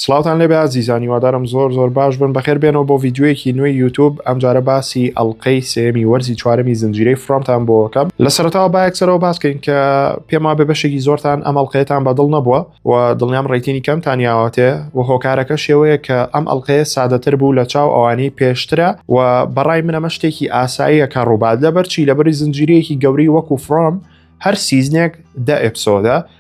سڵاوتان لێ بێ ئازیزان هیوادارم زۆر زۆر باش بن بەخێر بێنەوە بۆ ڤیدیۆیەکی نوێی یوتوب ئەمجارە باسی ئەڵلقەی سێمی وەرزی چوارەمی زنجیرەی فرۆمتان بۆکەم لە سەرتاوە با یەکسەرەوە باسکەین کە پێم وابێ بەشێکی زۆرتان ئەم ئەڵلقەیەتان بەدڵ نەبووە و دڵنیام ڕێتینی کەمتان یاوەتێ و هۆکارەکە شێوەیە کە ئەم ئەڵلقەیە سادەتر بوو لە چاو ئەوانەی پێشترە و بەڕای منەمە شتێکی ئاساییە کە ڕووبات لەبەرچی لەبەری زنجیرەیەکی گەوری وەکو فرۆم هەر سیزنێک دە ئەپسۆدە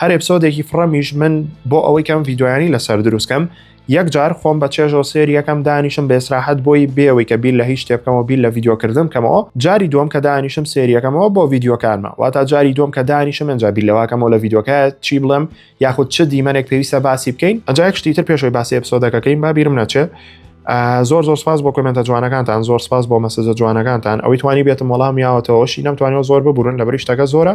هەر ئپسۆدێکی فڕەمیش من بۆ ئەوەی کەم ڤیددیویانی لەسەر دروستکەم یەک جار خۆم بە چێژەوە سێر یەکەم دانیشم بێسراحەت بۆی بێەوەی کە بیر لە هیچ شتێبکەمەوە بیر لە ڤیددیوکردم کەمەوە جاری دوم کە دانیشم سێریەکەمەوە بۆ ڤیددیوکانمە واتا جاری دوم کە دانیشم ئەجا بیر لەواکەمەوە لە ڤیددیوکە چی بڵێم یاخود چ دیمەنێک پێویستە باسی بکەین ئەجا شتی تر پێشەوەی باسی ئەپسۆدەکەکەین با بیرم نەچێ زۆر زۆر سپاس بۆ کمنتە جوانەکانتان زۆر سپاس بۆ مەسەجە جوانەکانتان ئەوەی توانی بێتم وەڵام یاوەتەوەشی نەمتوانەوە زۆر ببورن لە بریشتەکە زۆرە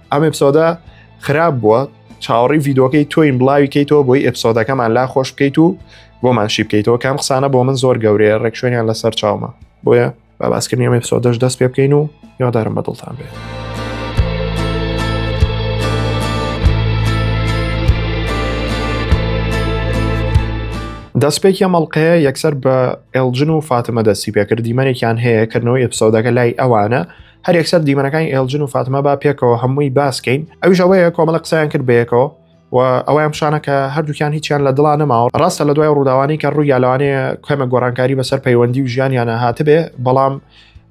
ئەم ئەپسۆدە خراپ بووە چاوەڕی یددیوکەی تۆین بڵاوی کەیتەوە بۆی ئەپسۆدەکەمان لا خۆش بکەیت و بۆمان شی بکەیتەوە کام قسانە بۆ من زۆر گەورەیە ڕێکشوێنیان لەسەر چاومە بۆیە با باسکردنی ئەمە ئەپسۆدەش دەست پێ بکەین و یادارم بە دڵتان بێت. دەستپێکی ئەمەڵقەیە یەکسەر بە ئێلجن و فاتمە دەستی پێکرد دیمەنێکیان هەیە کردنەوەی ئەپسۆدەکە لای ئەوانە هەر یەکسەر دیمەنەکانی ئێلجن و فاتمە با پێکەوە هەمووی باسکەین ئەویش ئەوەیە کۆمەڵە قسەیان کرد بەیەکەوە و ئەویان پیشانە کە هەردووکیان هیچیان لە دڵا نەماوە ڕاستە لە دوای ڕووداوانی کە ڕوویا لەوانەیە کەمە گۆڕانکاری بەسەر پەیوەندی و ژیانیانە هاتبێ بەڵام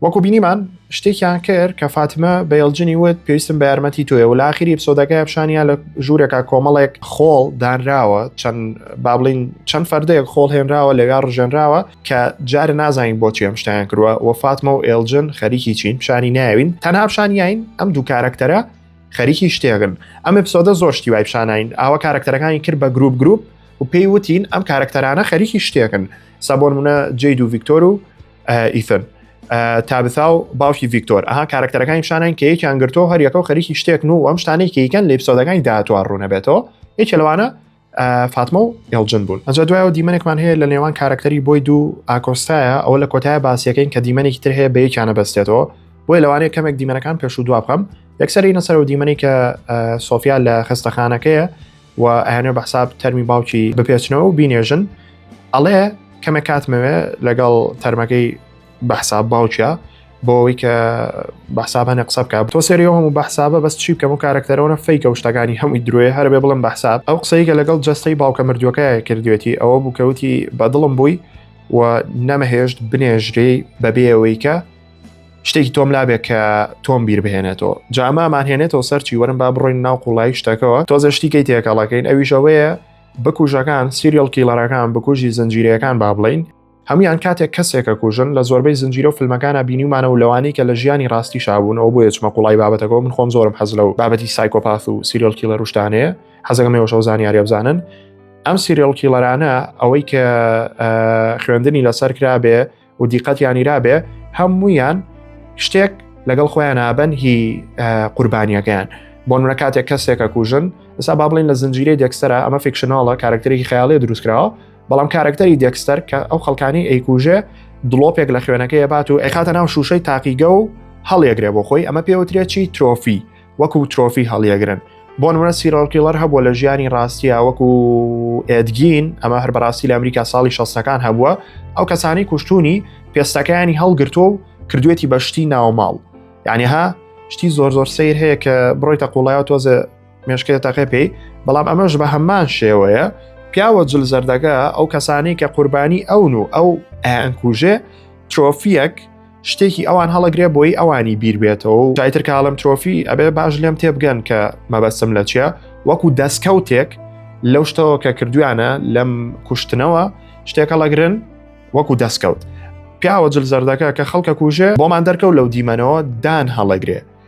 وەکو بینیمان شتێکیان کرد کە فاتمە بەێڵجنی وت پێویستم بە یارمەتی تۆیە و لاخیری پسۆدەکە پیشانیا لە ژوورێکا کۆمەڵێک خۆڵ دانراوە چەند بابلین چەند فەردەیەک خۆڵ هێنراوە لەوێ ڕژێنراوە کە جارە نازانین بۆچی ئەم شتیان کردوە و فاتمە و ئێلجن خەریکی چین پیشانی ناوین تەنها پیشانیین ئەم دوو کارەکتەرە خەریکی شتێگن ئەم ئەپسۆدە زۆر شتی وای پیشانین ئاوە کارەکتەرەکانی کرد بە گروپ گروپ و پێی وتین ئەم کارەکتەرانە خەریکی شتێکن سەبۆن منە جێ دوو ڤیکتۆر و ئیثن تابثا و باوکی ڤیکتۆر ئەها کارەکتەرەکانی پیشانین کە یەکیان گرتۆ هەریەکە و خەریکی شتێکن و ئەم شتانێکی یکەن لە ئپسۆدەکانی داهاتوە ڕوونەبێتەوە یەکێ لەوانە فاتمە و ئێڵجن بوون ئەجا دوایەوە دیمەنێکمان هەیە لە نێوان کارکتەری بۆی دوو ئاکۆستایە ئەوە لە کۆتایە باسیەکەین کە دیمەنێکی تر هەیە بەیەکیانە بەستێتەوە بۆی لەوانەیە کەمێک دیمەنەکان پێش و دوا بخەم یەکسەری نەسەر و دیمەنی کە سۆفیا لە خستەخانەکەیە و ئەیانێ بە حساب تەرمی باوکی بپێچنەوە و بینێژن ئەڵێ کەمێک کاتمەوێ لەگەڵ تەرمەکەی بەحساب باوکە بۆ ئەوەی کە بەحساب هەنێ قسە بکە تۆ سریەوە هەموو بەحسابە بەس چی بکەم و کارەکتەرەوە فیکە و شتەکانی هەمووی درۆێ هەربێ بڵم بەحساب ئەو قسەیگە لەگەڵ جستەی باوکە مردوەکە کردوێتی ئەوە بووکەوتی بەدڵم بووی و نەمەهێشت بنێژرێ بەبێەوەیکە شتێکی تۆم لابێت کە تۆم بیر بهێنێتەوە جامامان هێنێتەوە سەرچی وەرم با بڕۆین ناو قوڵایی شتەکەەوە تۆزە شتیکەی تێکەڵەکەین ئەویشەوەیە بکوژەکان سیریەل کیڵەرەکان بکوژی زنجیرەکان با بڵین هەمویان کاتێک کەسێک ئەکوژن لە زۆربەی زنجیرە و فلمەکانا بینیومانە و لەوانەی کە لە ژیانی ڕاستی شابوون ئەو بۆیە چمە قوڵای بابەتەکەەوە من خۆم زۆرم حەز لەو بابەتی سایکۆپاث و سیریل کیلە روشتانەیە حەزەکە مێوەش ئەو زانیاریە بزانن ئەم سیریل کیلەرانە ئەوەی کە خوێندنی لەسەر کرابێ و دیقەتیانی رابێ هەمویان شتێک لەگەڵ خۆیان نابن هی قوربانیەکەیان بۆ نورە کاتێک کەسێکە کوژن ئسا با بڵین لە زنجیرەی دەکسرە ئەمە فیکشنناڵە کارکتەرێکی خیاڵێ دروستکراوە بەڵام کارەکتەری دێکستەر کە ئەو خەڵکانی ئەیکوژێ دڵۆپێک لە خوێنەکەی بات و ئەخاتە ناو شوشەی تاقیگە و هەڵیەگرێ بۆ خۆی ئەمە پێوترێکی ترۆفی وەکو ترۆفی هەڵیەگرن بۆ نمرە سیرۆکیڵەر هەبووە لە ژیانی ڕاستیە وەکو ئێدگین ئەمە هەر بەڕاستی لە ئەمریکا ساڵی شەستەکان هەبووە ئەو کەسانی کوشتونی پێستەکانی هەڵگرتووە و کردوێتی بە شتی ناوماڵ یعنیها شتی زۆر زۆر سیر هەیە کە بڕۆیتە قوڵایەوە تۆزە مێشکێ تەقێ پێی بەڵام ئەمەش بە هەمان شێوەیە پیاوە جل زەردەکە ئەو کەسانی کە قوربانی ئەون و ئەو ئەنکوژێ ترۆفیەک شتێکی ئەوان هەڵەگرێ بۆی ئەوانی بیربێتەوە و جایتر کاڵم ترۆفی ئەبێ باش لێم تێبگەن کە مەبەسم لە چیە وەکو دەستکەوتێک لەو شتەوە کە کردویانە لەم کوشتنەوە شتێکە لەگرن وەکو دەستکەوت پیاوە جل زەردەکە کە خەڵکە کوژێ بۆمان دەرکەوت لەو دیمەنەوە دان هەڵەگرێ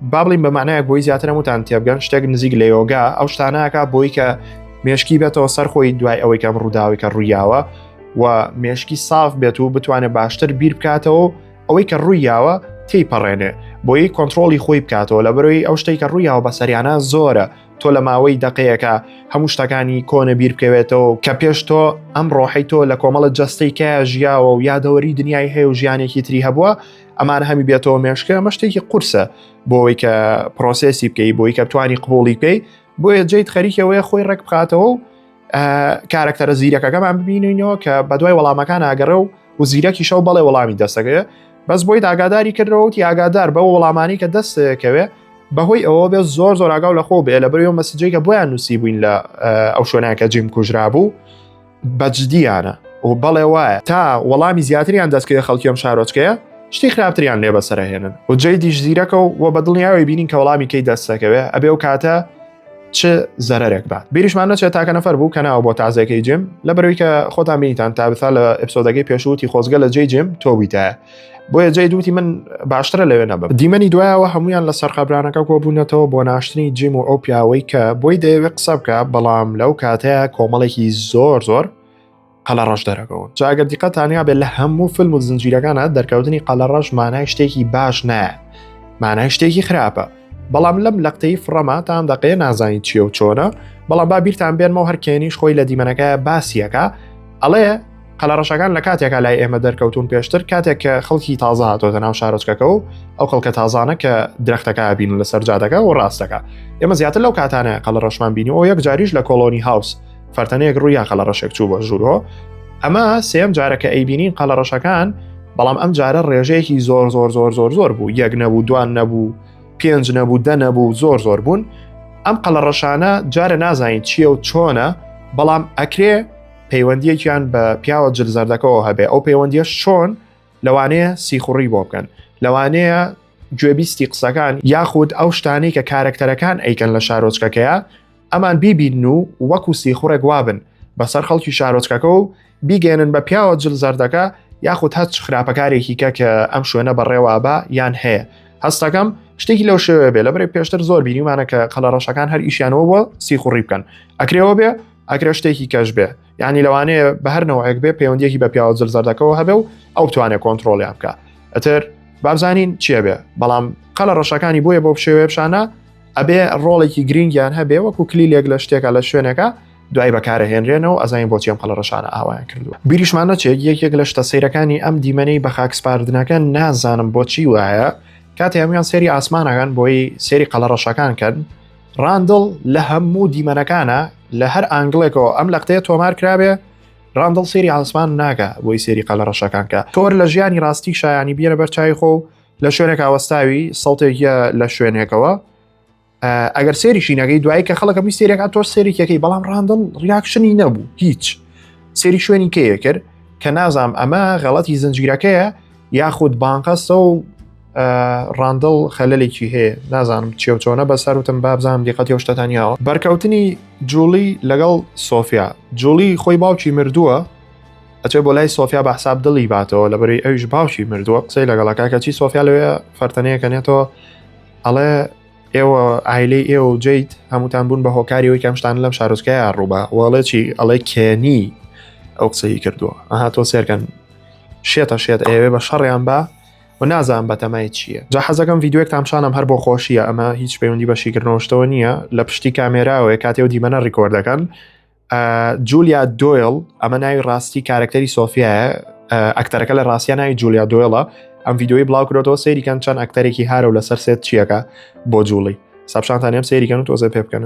با بڵین بە معنایەک بۆی زیاترم وتان تێبگەن شتێک نزیک لە یۆگا ئەو شتانەکە بۆی کە مێشکی بێتەوە سەر خۆی دوای ئەوەی کەم ڕووداوی کە ڕوویاوە و مێشکی ساف بێت و بتوانێت باشتر بیر بکاتەوە ئەوەی کە ڕوویاوە تی پەڕێنێ بۆی کۆنتترۆلی خۆی بکاتەوە لە بەرەوەی ئەو شتێکە ڕوویاوە بەسەریانە زۆرە تۆ لە ماوەی دقەیەەکە هەموو شتەکانی کۆنە بیر بکەوێتەوە کە پێش تۆ ئەم ڕۆحی تۆ لە کۆمەڵە جەستەی کە ژیاوە و یادەوەری دنیای هەیە و ژیانێکی تری هەبووە ئەمان هەمی بێتەوە مێشکە ئەمە شتێکی قورسە بۆەوەی کە پرۆسسی بکەی بۆی کە توانی قبولی پێی بۆیە جیت خەریکەوەی خۆی ڕێک بخاتەوە و کارەکتەرە زیرەکەکەمان ببینینەوە کە بە دوای وەڵامەکان ئاگەڕە و و زیرەکی شەو بەڵێ وەڵامی دەستەکەێ بەس بۆی ئاگاداری کردەوەتی ئاگادار بە وەڵامانی کە دەستەکەوێ بەهۆی ئەوە بێت زۆر زۆر ئاگاو لە خۆ بێ لە بەرەوە مەسجێکە بۆیان نووسی بووین لە ئەو شوێنەکە جیم کوژرا بوو بەجدیانە و بەڵێ وایە تا وەڵامی زیاتریان دەستکەوێ خەڵکیەم شارۆچکەیە شتی خراپتریان لێ بەسەرهێنن و جێ دیش زیرەکە و وە بەدڵنیاوی بینین کە وەڵامی کەی دەستەکەوێ ئەبێ و کاتە چ زەرێک بات بیریشمان نەچێت تاکە نەفەر بوو کە ناوە بۆ تازەکەی جیم لە بەروی کە خۆتان بینیتان تا بثا لە ئەپسۆدەکەی پێشووتی خۆزگە لە جێ جیم تۆبیتە بۆیە جێ دووتی من باشترە لەوێ نەبە دیمەنی دوایەوە هەمویان لە سەرقابرانەکە کۆبوونەتەوە بۆ ناشتنی جیم و ئەو پیاوەی کە بۆی دەیەوێت قسە بکە بەڵام لەو کاتەیە کۆمەڵێکی زۆر زۆر قەلە ڕەش دەرەکەون جاگەر دیقەتانیا بێت لە هەموو فیلم و زنجیرەکانە دەرکەوتنی قەلە ڕەش مانای شتێکی باش نایە مانای شتێکی خراپە بەڵام لەم لەقتەی فڕەما تام دەقەیە نازانیت چیە و چۆنە بەڵام با بیرتان بێنمەوە هەرکێنیش خۆی لە دیمەنەکە باسیەکە ئەڵێ قەلەڕەشەکان لە کاتێکا لای ئێمە دەرکەوتون پێشتر کاتێک کە خەڵکی تازە هاتۆتە ناو شارۆچکەکە و ئەو خەڵکە تازانە کە درختەکە بین لە سەرجادەکە و ڕاستەکە ئێمە زیاتر لەو کاتانە قەلە ڕەشمان بینی و یەک جاریش لە کۆلۆنی هاوس فەرتەنەیەک ڕووی یاقە لە ڕەشێک چوو بە ژوورۆ ئەمە سێم جارەکە ئەیبینین قەڵە ڕەشەکان بەڵام ئەم جارە ڕێژەیەکی زۆر زۆر زۆر زۆر زۆر بوو یەک نەبوو دوان نەبوو پێنج نەبوو دە نەبوو زۆر زۆر بوون ئەم قەڵە ڕەشانە جارە نازانین چییە و چۆنە بەڵام ئەکرێ پەیوەندیەکیان بە پیاوە جلزەردەکەەوە هەبێ ئەو پەیوەندیە شۆن لەوانەیە سیخوڕی بۆ بکەن لەوانەیە گوێبیستی قسەکان یاخود ئەو شتانەی کە کارەکتەرەکان ئەیکەن لە شارۆچکەکەیە ئەمان بیبینن و وەکو سیخوڕێک وابن بەسەر خەڵکی شارۆچکەکە و بیگەێنن بە پیاوە جل زەردەکە یاخود هەچ خراپەکارێکی کە کە ئەم شوێنە بەڕێوابە یان هەیە هەستەکەم شتێکی لەو شێوێ بێ لە بەرێ پێشتر زۆر بینیمانە کە قەلە ڕەشەکان هەر ئیشیانەوە بۆ سیخوڕی بکەن ئەکرێەوە بێ ئەکرێ شتێکی کەش بێ ینی لەوانەیە بە هەرنەوەیەک بێ پەیوەندیەکی بە پیاوە جل زەردەکەەوە هەبێ و ئەو توانێت کۆنتترۆلیان بکە ئەتر بابزانین چیە بێ بەڵام قەلە ڕەشەکانی بۆیە بۆ شێوێ پیشانە ئەبێ ڕۆڵێکی گرنگیان هەبێ وەکو کلیلێک لە شتێکە لە شوێنەکە دوای بەکارەهێنرێنەوە ئەزانین بۆچی ئەم قەڵە ڕەشانە ئاوایان کردووە بیریشمان نەچێت یەکێک لە شتە سیرەکانی ئەم دیمەنەی بە خاکسپاردنەکە نازانم بۆچی وایە کاتی هەمویان سێری ئاسمانەکان بۆی سێری قەڵە ڕەشەکان کەن ڕاندڵ لە هەموو دیمەنەکانە لە هەر ئانگلێکەوە ئەم لە قتەیە تۆمار کرابێ ڕاندڵ سێری ئاسمان ناگە بۆی سێری قەلە ڕەشەکانکە تۆر لە ژیانی ڕاستی شایانی بیێنە بەرچای خۆ و لە شوێنێکا وەستاوی سەڵتێکە لە شوێنێکەوە ئەگەر سێری شینەکەی دوایی کە خەڵکە می سێرێکا تۆ سێریکەکەی بەڵام ڕاندڵ ریاکشنی نەبوو هیچ سێری شوێنی کەیە کرد کە نازام ئەمە غەڵەتی زنجگیرەکەیە یاخود بانقەسە و ڕاندڵ خەلەلێکی هەیە نازانم چێو چۆنە بە سەروتم بابزانام دیقەتی و شتەتانیاوە بەرکەوتنی جوڵی لەگەڵ سۆفیا جوڵی خۆی باوکی مردووە ئەچێ بۆ لای سۆفیا بە حساب دڵی باتەوە لە بەری ئەویش باوکی مردووە قسەی لەگەڵە کاکەچی سۆفیا لەوێ فەرتەنەیەکەنێتەوە ئەڵێ ئێوە ئایلەی ئێوە و جیت هەمووتان بوون بە هۆکاریەوەی کەمشتان لەم شارۆچکەیە ڕووبە وڵێ چی ئەڵێ کێنی ئەو قسەی کردووە ئەها تۆ سێرکەن شێتە شێت ئەوێ بە شەڕیان بە و نازان بەتەمای چییە جا حەزەکەم یددیوێک تامشانم هەر بۆ خۆشیە ئەمە هیچ پەیوەندی بە شیکردنەوەشتەوە نییە لە پشتی کامێراوەیە کاتێ و دیمەنە ڕیکۆردەکەن جولیا دۆیل ئەمە ناوی ڕاستی کارکتەری سۆفیایە ئەکتەرەکە لە ڕاستە ناوی جولیا دۆیڵە ئەم یددیوی بڵاوکرێتەوە سەیریکەن چەند ئەکتەرێکی هارە و لەسەر سێت چیەکە بۆ جوڵی سەپشانتان ئەم سەیریکەن و تۆزە پێ بکەن.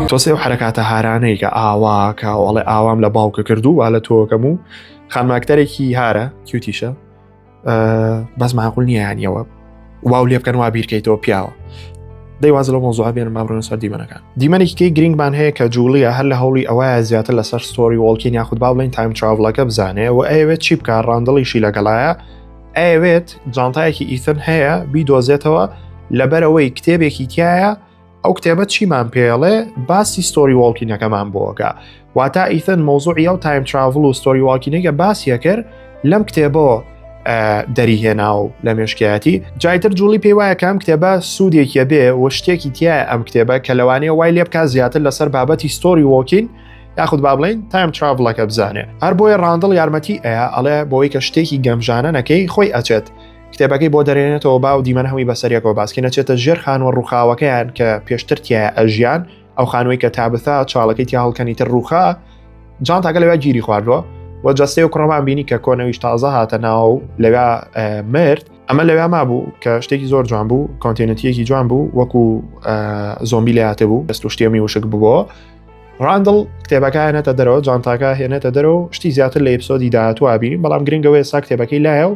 تۆسێ و حرکاتە هارانەی کە ئاواکە ئەڵێ ئاوام لە باوکە کردو وا لە تۆکەم و خانماکتەرێکی هارە کیوتیشە بەس ماقول نییانەوە واو لێ بکەن وا بیرکەیتەوە پیاوە دەیواز لە مۆزوع بێن مامرۆن سەر دیمەنەکان دیمەنێکی گرنگمان هەیە کە جوڵیە هەر لە هەوڵی ئەوەیە زیاتر لەسەر ستۆری وڵکین یاخود با بڵین تایم تراڤڵەکە بزانێ و ئەوێت چی بکە ڕاندڵیشی لەگەڵایە ئەوێت جانتایەکی ئیثن هەیە بیدۆزێتەوە لەبەرەوەی کتێبێکی تایە ئەو کتێبە چیمان پێڵێ باسی ستۆری وڵکینەکەمان بۆگە واتا ئیثن مۆزوعی ئەو تایم تراڤل و ستۆری واکینێکە باسیە کرد لەم کتێبەوە دەری هێنا و لە مێشکایەتی جایتر جوڵی پێی وایە کەم کتێبە سوودێکیە بێ و شتێکی تایە ئەم کتێبە کە لەوانەیە وای لێ بکە زیاتر لەسەر بابەتی ستۆری وۆکین یاخود با بڵین تایم تراڤڵەکە بزانێ هەر بۆیە ڕاندڵ یارمەتی ئەیە ئەڵێ بۆی کە شتێکی گەمژانە نەکەی خۆی ئەچێت کتێبەکەی بۆ دەرێنێتەوە باو دیمەن هەمی بەسەرەکەەوە باسکە نەچێتە ژێر خانوە ڕووخاوەکەیان کە پێشتر تایە ئەژیان ئەو خانووی کە تابثا چاڵەکەی تیا هەڵکەنی تر ڕووخا جان تاگە لەوێ گیری خواردووە و جەستەی و کوڕەمان بینی کە کۆنەویش تازە هاتە ناو لەوێ مرد ئەمە لەوێ ما بوو کە شتێکی زۆر جوان بوو کۆنتێنەتیەکی جوان بوو وەکو زۆمبی لە هاتە بوو دەست و شتێمی وشک بووە ڕاندڵ کتێبەکە هێنێتە دەرەوە جانتاکە هێنێتە دەرەوە شتی زیاتر لە ئپسۆدی داهاتوابی بەڵام گرنگەوەی سا کتێبەکەی لایە و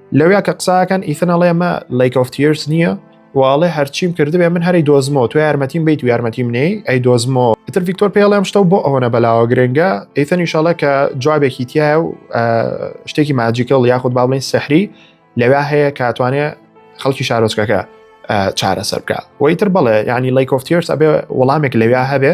لەویا کە قساکەن ئیثن ئەڵێ مە لەیک ئۆف تیرس نییە واڵێ هەرچیم کردبێ من هەری دۆزمەوە تو یارمەتیم بیت و یارمەتی منەی ئەی دۆزمەوە ئیتر ڤیکتۆر پێڵێم شتە بۆ ئەوەنە بەلاوە گرنگە ئیثنی شڵە کە جوابێکی تایە و شتێکی ماجیکەڵ یاخود با بڵین سەحری لەویا هەیە کاتوانێ خەڵکی شارۆچکەکە چارەسەر بکە وەیتر بڵێ ینی لەیکۆفتیرس ئەبێ وەڵامێک لەویا هەبێ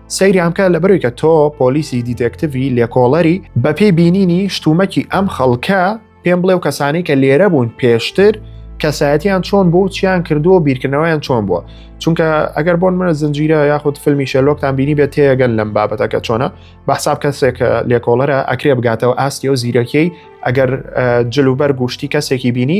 سەیریان بکە لەبەروی کە تۆ پۆلیسی دیتەکتڤی لێکۆڵەری بەپێی بینینی شتومەکی ئەم خەڵکە پێم بڵێ و کەسانی کە لێرە بوون پێشتر کەسایەتیان چۆن بوو چیان کردووە بیرکردنەوەیان چۆن بووە چونکە ئەگەر بۆن منە زنجیرە یاخود فیلمی شەلۆکتان بینی بێت تێگەن لەم بابەتەکە چۆنە بەحساب کەسێک لێکۆڵەرە ئەکرێ بگاتەوە ئاستی و زیرەکیی ئەگەر جلوبەر گوشتی کەسێکی بینی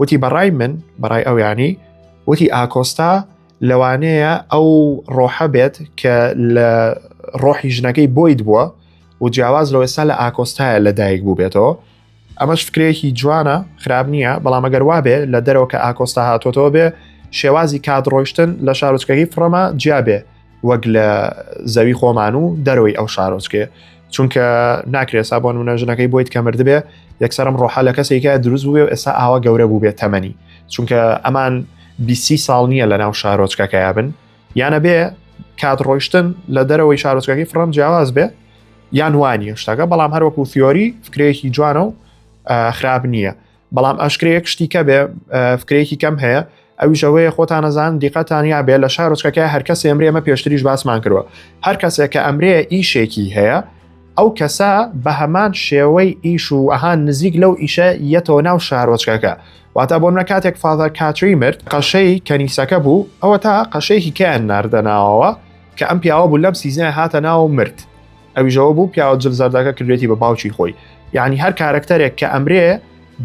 وتی بەڕای من بەڕای ئەو ینی وتی ئاکۆستا لەوانەیە ئەو ڕۆحە بێت کە لە ڕۆحی ژنەکەی بۆید بووە و جیاواز لە ئێستا لە ئاکۆستایە لە دایک بوو بێتەوە ئەمەش فکرێکی جوانە خراب نییە بەڵام ئەگەر وابێ لە دەرەوە کە ئاکۆستا هاتۆتەوە بێ شێوازی کات ڕۆیشتن لە شارۆچکەکەی فڕەما جیابێ وەک لە زەوی خۆمان و دەرەوەی ئەو شارۆچکێ چونکە ناکرێت سا بۆن منە ژنەکەی بۆیت کە مردبێ یەکسەرم ڕۆحە لە کەسێکە دروست بووێ و ئێستا ئاوا گەورە بوو بێت تەمەنی چونکە ئەمان بیسی ساڵ نییە لە ناو شارۆچکەکەیا بن یانە بێ کات ڕۆیشتن لە دەرەوەی شارۆچکەکەی فڕم جیاواز بێ یان وانە شتەکە بەڵام هەروەکو تیۆری فکرەیەکی جوانە و خراپ نییە بەڵام ئەشکرەیەک شتی کە بێ فکرێکی کەم هەیە ئەویشەوەیە خۆتانەزان دیقەتانیا بێ لە شارۆچکەکە هەرکە سێمرێ ئەمە پێشتریش باسمان کردوە هەر کەسێک کە ئەمرێ ئیشێکی هەیە ئەو کەسە بە هەمان شێوەی ئیش و ئەهان نزیک لەو ئیشە یەتەوە ناو شارۆچکەکە واتا بۆ منە کاتێک فاذەر کاتری مرد قەشەی کەنیسەکە بوو ئەوە تا قەشەیەکی کەیان ناردەناوەوە کە ئەم پیاوە بوو لەم سیزنای هاتە ناو مرد ئەویش ئەوە بوو پیاوە جل زەردەکە کردێتی بە باوکی خۆی یعنی هەر کارەکتەرێک کە ئەمرێ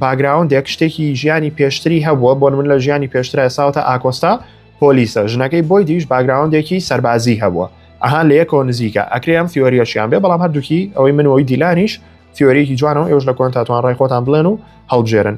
باگراوندێک شتێکی ژیانی پێشتری هەبووە بۆن من لە ژیانی پێشترە ساوتە ئاکۆستا پۆلیسە ژنەکەی بۆی دیش باگراوندێکی سەربازی هەبووە ئەهان لە یەکەوە نزیکە ئەکرێ ئەم فیۆریەشیان بێ بەڵام هەردووکی ئەوەی منەوەی دیلانیش فیۆریەکی جوانەوە ئێوش لە کۆنتاتوان ڕای خۆتان بڵێن و هەڵبژێرن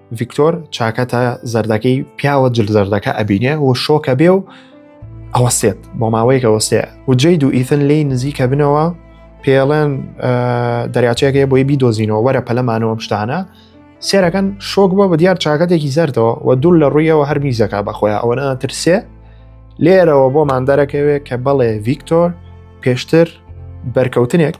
ڤیکتۆر چاکەتە زەردەکەی پیاوە جل زەردەکە ئەبینێ و شۆکە بێ و ئەوەسێت بۆ ماوەیەکە وەسێ و جید و ئیثن لی نزیکە بنەوە پێڵێن دەریاچەکەی بۆی بیدۆزینەوە وەرە پەلەمانەوە شتانە سێرەکەن شۆک بۆ بە دیار چاکەتێکی زەردەوە و دوور لە ڕوویەوە هەر میزەکە بەخۆیان ئەوەنە ترسێ لێرەوە بۆمان دەرەکەوێت کە بەڵێ ڤیکتۆر پێشتر بەرکەوتنێک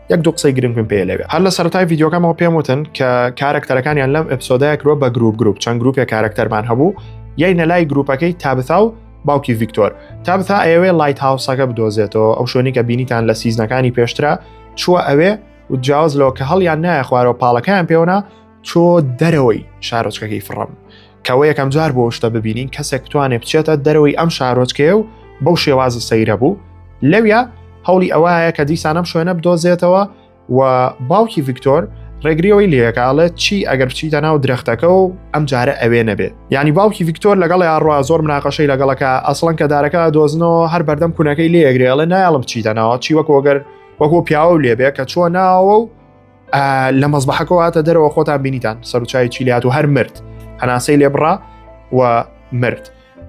یەک دوو قسەی گرنگم پێ لەوێ هەر لە سەرای یددیوکەمەوە پێم وتن کە کارەکتەرەکانیان لەم ئەپسۆدای کرۆ بە گروپ گروپ چەند گروپێک کارەکتەرمان هەبوو یای نەلای گروپەکەی تابتا و باوکی ڤیکتۆر تابتا ئەوێ لایت هاوسەکە بدۆزێتەوە ئەو شوێنی کە بینیتان لە سیزنەکانی پێشترا چووە ئەوێ و جیاواز لەوە کە هەڵیان نایە خوارەوە پاڵەکەیان پێوەنا چۆ دەرەوەی شارۆچکەکەی فڕم کەەوە یەکەم جار بۆ شتە ببینین کەسێک بتوانێت بچێتە دەرەوەی ئەم شارۆچکەیە و بەو شێوازە سەیرە بوو لەویا هەوڵی ئەوەیە کە دیسانم شوێنە بدۆزێتەوە و باوکی ڤیکتۆر ڕێگریەوەی لەکڵێت چی ئەگەر بچیتە ناو درەختەکە و ئەم جارە ئەوێ نەبێت ینی باوکی ڤیکتۆر لەگەڵ یاڕوا زۆر مناقەشەی لەگەڵەکە ئەسڵەن کە دارەکە دۆزنەوە هەر بەردەم کوونەکەی لێگرێڵێ نایڵم بچیتە ناوە چی وەکۆگەر وەکۆ پیاوە لێبێ کە چوە ناوە و لە مەزبحەکەەوە هاتە دەرەوە خۆتان بینیتان سەرچوی چیلیات و هەر مرد هەناسەی لێبڕا و مرد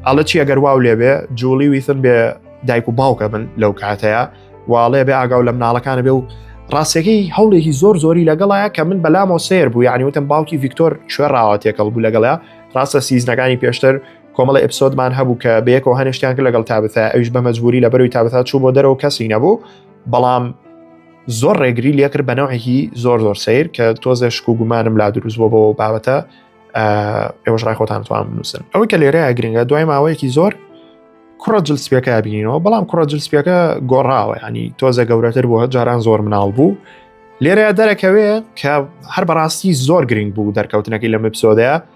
ئەڵە چی ئەگەر واو لێبێ جوڵی ویثن بێ دایک و باوکە بن لەو کاتەیە واڵێ بێ ئاگاو لە مناڵەکانە بێ و ڕاستەکەی هەوڵێکی زۆر زۆری لەگەڵایە کە من بەلامەوە سێر بوو یعنی وتم باوکی ڤیکتۆر کوێڕاوە تێکەڵ بوو لەگەڵە ڕاستە سیزنەکانی پێشتر کۆمەڵە ئپسۆدمان هەبوو کە بەیەکەوە هەنیشتیان کرد لەگەڵ تابتا ئەوش بە مەجبوری لە بەروی تابتا چوو بۆ دەرەوە کەسی نەبوو بەڵام زۆر ڕێگری لێکرد بە نەوەیهی زۆر زۆر سیر کە تۆزێ شک و گومانم لا دروست بۆ بەوە بابەتە ئێوەش ڕای خۆتان توان بنووسن ئەوەی کە لێرەیە گرنگە دوای ماوەیەکی زۆر کوڕە جل سپیەکە بینینەوە بەڵام کوڕە جل سپیەکە گۆڕاوە ینی تۆزە گەورەتر بووە جاران زۆر مناڵ بوو لێرەیە دەرەکەوێ کە هەر بەڕاستی زۆر گرنگ بوو دەرکەوتنەکەی لە مپسۆدەیە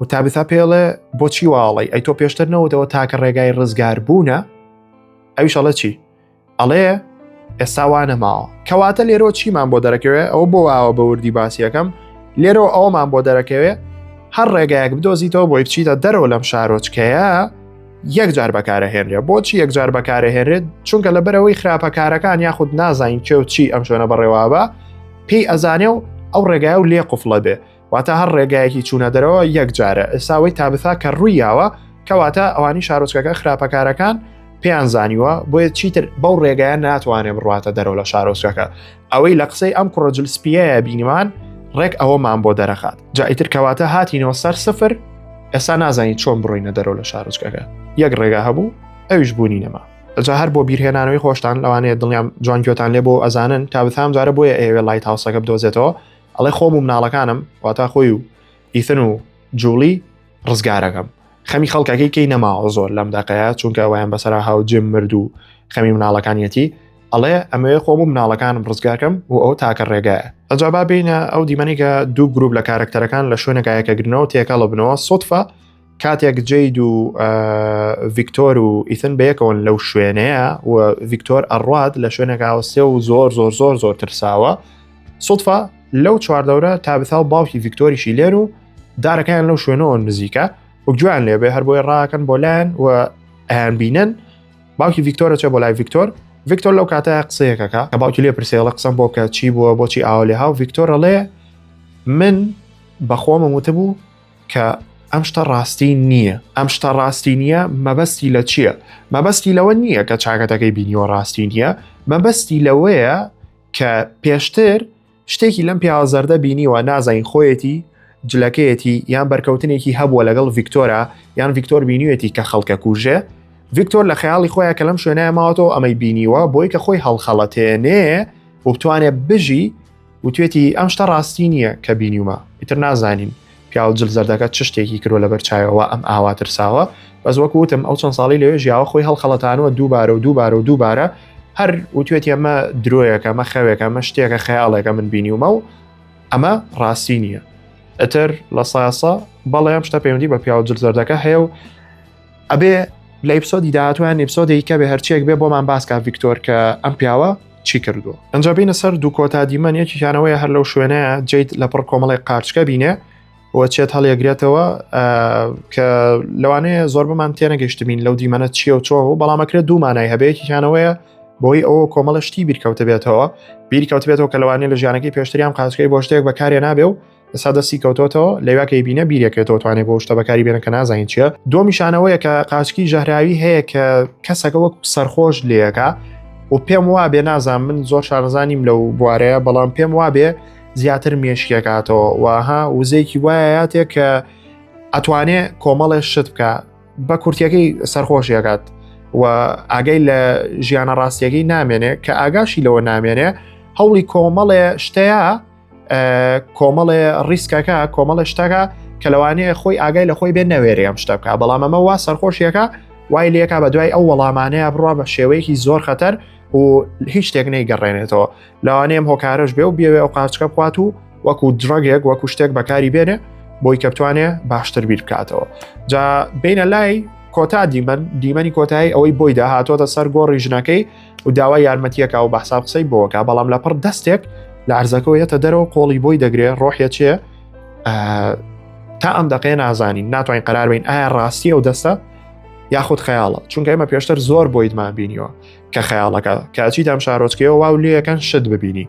و تابیتا پێڵێ بۆچی واڵی ئەی تۆ پێشتر نەوەدەوە تاکە ڕێگای ڕزگار بوونە ئەویشەڵە چی ئەڵێ ئێستا وانە ماوە کەواتە لێرۆ چیمان بۆ دەرەکەوێ ئەو بۆ واوە بە وردی باسیەکەم لێرۆ ئەومان بۆ دەرەکەوێ هەر ڕێگایەک بدۆزیتەوە بۆی بچیتە دەرەوە لەم شارۆچکەیە یەکجار بەکارە هێنرێ بۆچی یەکجار بەکارە هێنرێت چونکە لە بەرەوەی خراپەکارەکان یاخود نازانین کێ و چی ئەم شوێنە بەڕێوابە پێی ئەزانێ و ئەو ڕێگای و لێ قفڵە بێ واتە هەر ڕێگایەکی چوونە دەرەوە یەک جارە ئێساوەی تابثا کە ڕووی یاوە کەواتە ئەوانی شارۆچکەکە خراپەکارەکان پێیان زانیوە بۆیە چیتر بەو ڕێگایە ناتوانێت بڕاتە دەرەوە لە شارۆچکەکە ئەوەی لە قسەی ئەم کوڕەجل سپیە بینیمان ڕێک ئەوەمان بۆ دەرەخات جائیتر کەواتە هاتینەوە سەر سفر ئێستا نازانین چۆن بڕینە دەرەوە لە شارۆچکەکە یەک ڕێگا هەبوو ئەویش بوونی نەما جا هەر بۆ بیرهێنانەوەی خۆشتان لەوانەیە دڵیان جوانکیۆتان لێ بۆ ئەزانن تا بثام جارە بۆیە ئێوێ لای تاوسەکە بدۆزێتەوە ئەڵێ خۆم و مناڵەکانم واتا خۆی و ئیثن و جوڵی ڕزگارەکەم خەمی خەڵکەکەی کەی نەماوە زۆر لەم دەقەیە چونکە وایان بەسرا هاو جێم مرد و خەمی مناڵەکانیەتی ئەڵێ ئەمەوێ خۆم و مناڵەکانم ڕزگارکەم و ئەو تاکە ڕێگایە ئەجابا بینە ئەو دیمەنێکە دوو گروپ لە کارکتەرەکان لە شوێنەکایەکە گرنەوە تێکەڵە بنەوە سوتفە کاتێک جید و ڤیکتۆر و ئیتن بەیەکەوەن لەو شوێنەیە و ڤیکتۆر ئەڕات لە شوێنێک ئاوسێ و زۆر زۆر زۆر زۆر ترساوە سوفا لەو چواردەورە تابتا و باوکی ڤیکتۆریشی لێن و دارەکەیان لەو شوێنەوە نزیکە و گویان لێبێ هەر بۆی ڕاکەن بۆ لایەن و ئەیان بینن باوکی ڤیکتۆرە چێ بۆ لای ڤیکتۆر ڤیکتۆر لەو کاتە قسەیەکەکە کە باوکی لێ پرسێڵە قسەم بۆ کە چی بووە بۆچی ئاوا لێ هاو ڤیکتۆرە ڵێ من بەخۆمە وتبوو کە ئەم شتە ڕاستی نییە ئەم شتە ڕاستی نییە مەبەستی لە چییە مەبەستی لەوە نییە کە چاکەتەکەی بینیوە ڕاستی نییە مەبەستی لەوەیە کە پێشتر شتێکی لەم پیاوەزەردە بینیوە نازانین خۆیەتی جلەکەیەتی یان بەرکەوتنێکی هەبووە لەگەڵ ڤیکتۆرا یان ڤیکتۆر بینیوێتی کە خەڵکە کوژێ ڤیکتۆر لە خەیاڵی خۆیان کە لەم شوێنە ماوەتەوە ئەمەی بینیوە بۆی کە خۆی هەڵخەڵەتێنێ و بتوانێت بژی وتوێتی ئەم شتە ڕاستی نییە کە بینیومە ئیتر نازانین پیاو جل زەردەکە چ شتێکی کرۆ لە بەرچایەوە ئەم ئاوا ترساوە بەس وەک وتم ئەو چەند ساڵی لەوێ ژیاوە خۆی هەڵخەڵەتانەوە دووبارە و دووبارە و دووبارە هەر وتوێت ئەمە درۆیەکە مە خەوێکە مە شتێکە خەیاڵێکە من بینیومە و ئەمە ڕاستی نییە ئەتر لە ساسە بەڵێ ئەم شتە پەیوەندی بە پیاو جل زەردەکە هەیە و ئەبێ لە ئیپسۆدی داهاتویان ئیپسۆدێکی کە بێ هەرچێک بێ بۆمان باسکە ڤیکتۆر کە ئەم پیاوە چی کردو ئەجا بینە سەر دوو کۆتا دیمەن یەکیانەوەی هەر لەو شوێنەیە جیت لە پڕ کۆمەڵی قارچکە بینێ وە چێت هەڵیەگرێتەوە کە لەوانەیە زۆر بمان تێنەگەشتبین لەو دیمەنە چیە و چۆ و بەڵامەکرێت دوومانای هەبێکیانەوەیە بۆی ئەوە کۆمەڵە شتی بیرکەوتە بێتەوە بیرکەوت بێتەوە کە لەوانێ لە ژیانەکەی پێشتریان قاسکەی بۆ شتێک بەکارێ نابێ و ئسا دەستی کەوتۆتەوە لەوا کەی بینە بیرێکێتەوە توانێت بۆ شتە بەکاری بێنە کە نازانین چیە دۆمیشانەوەیە کە قاچکی ژەهراوی هەیە کە کەسەکە وەک سەرخۆش لەکە و پێم وا بێ نازان من زۆر شارزانیم لەو بوارەیە بەڵام پێم وا بێ زیاتر مێشکێکاتەوە وها وزەیەکی وایەتێک کە ئەتوانێ کۆمەڵێ شت بکە بە کورتەکەی سەرخۆشیەکات و ئاگەی لە ژیانە ڕاستیەکەی نامێنێ کە ئاگاشی لەوە نامێنێ هەوڵی کۆمەڵێ شتەیە کۆمەڵێ ڕیسکەکە کۆمەڵە شتەکە کە لەوانەیە خۆی ئاگای لە خۆی بێ نەوێری ئەم شتە بکە بەڵام ئەمە وا سەرخۆشیەکە وای لەکە بە دوای ئەو وەڵامانەیە بڕوا بە شێوەیەکی زۆر خەتەر و هیچ شتێک نەیگەڕێنێتەوە لەوانەیەم هۆکارش بێ و بێوێ ئەو قاچکە بخوات و وەکو درۆگێک وەکو شتێک بەکاری بێنێ بۆی کە بتوانێ باشتر بیر بکاتەوە جا بینە لای کۆتا دیمەن دیمەنی کۆتایی ئەوەی بۆی داهاتۆتە سەر گۆڕی ژنەکەی و داوای یارمەتیەکە و بەحساب قسەی بۆکە بەڵام لە پڕ دەستێک لە عرزەکەەوە یەتە دەرەوە قۆڵی بۆی دەگرێ ڕۆحە چێ تا ئەم دەقێ نازانین ناتوانین قرار بین ئایا ڕاستی ئەو دەستە یاخود خەیاڵە چونکە ئمە پێشتر زۆر بۆیدمان بینیوە کە خەیاڵەکە کاچی دام شارۆچکەوە واو لەکەن شت ببینی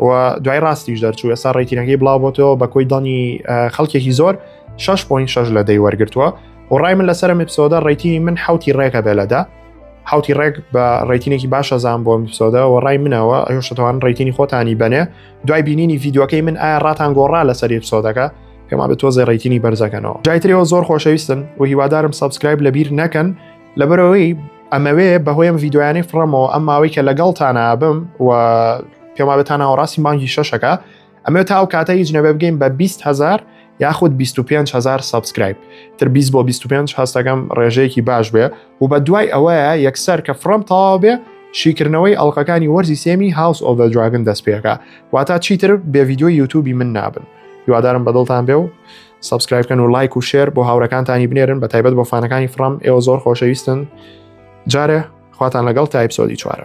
و دوای ڕاستیش دەرچوو ئێستا ڕێکینەکەی بڵاوبتەوە بە کۆی دانی خەڵکێکی زۆر 6.6 لە دەی وەرگتووە و ڕای من لەسەر میپسۆدە ڕێتی من حوتی ڕێکە بێ لەدا حوتی ڕێک بە ڕێتینێکی باشە زان بۆ میپسۆدە و ڕای منەوە ئەو شتوان ڕێتینی خۆتانی بنێ دوای بینینی یددیوەکەی من ئایا ڕاتان گۆڕا لەسەر میپسۆدەکە پێما بە تۆزێ ڕێتینی بەرزەکەنەوە جایترەوە زۆر خۆشەویستن و هیوادارم سبسکرایب لەبیر نەکەن لەبەرەوەی ئەمەوێ بەهۆی ئەم ڤیددیویانەی فڕەمەوە ئەم ماوەی کە لەگەڵتان ئابم و پێمابێتان ناوەڕاستی مانگی شەشەکە ئەمێ تا ئەو کاتە هیچ نەبێ بگەین بە 20هزار یاخود 25هزار سبسکرایب تر 20 بۆ 25 هەستەکەم ڕێژەیەکی باش بێ و بە دوای ئەوەیە یەکسەر کە فڕم تەواو بێ شیکردنەوەی ئەڵلقەکانی وەرزی سێمی هاوس ئۆڤ دراگن دەست پێەکە واتا چیتر بێ یددیوی یوتوبی من نابن هیوادارم بەدڵتان بێ و سبسکرایبکەن و لایک و شێر بۆ هاورەکانتانی بنێرن بە تایبەت بۆ فانەکانی فڕم ئێوە زۆر خۆشەویستن جارێ خواتان لەگەڵ تایپسۆدی چوارە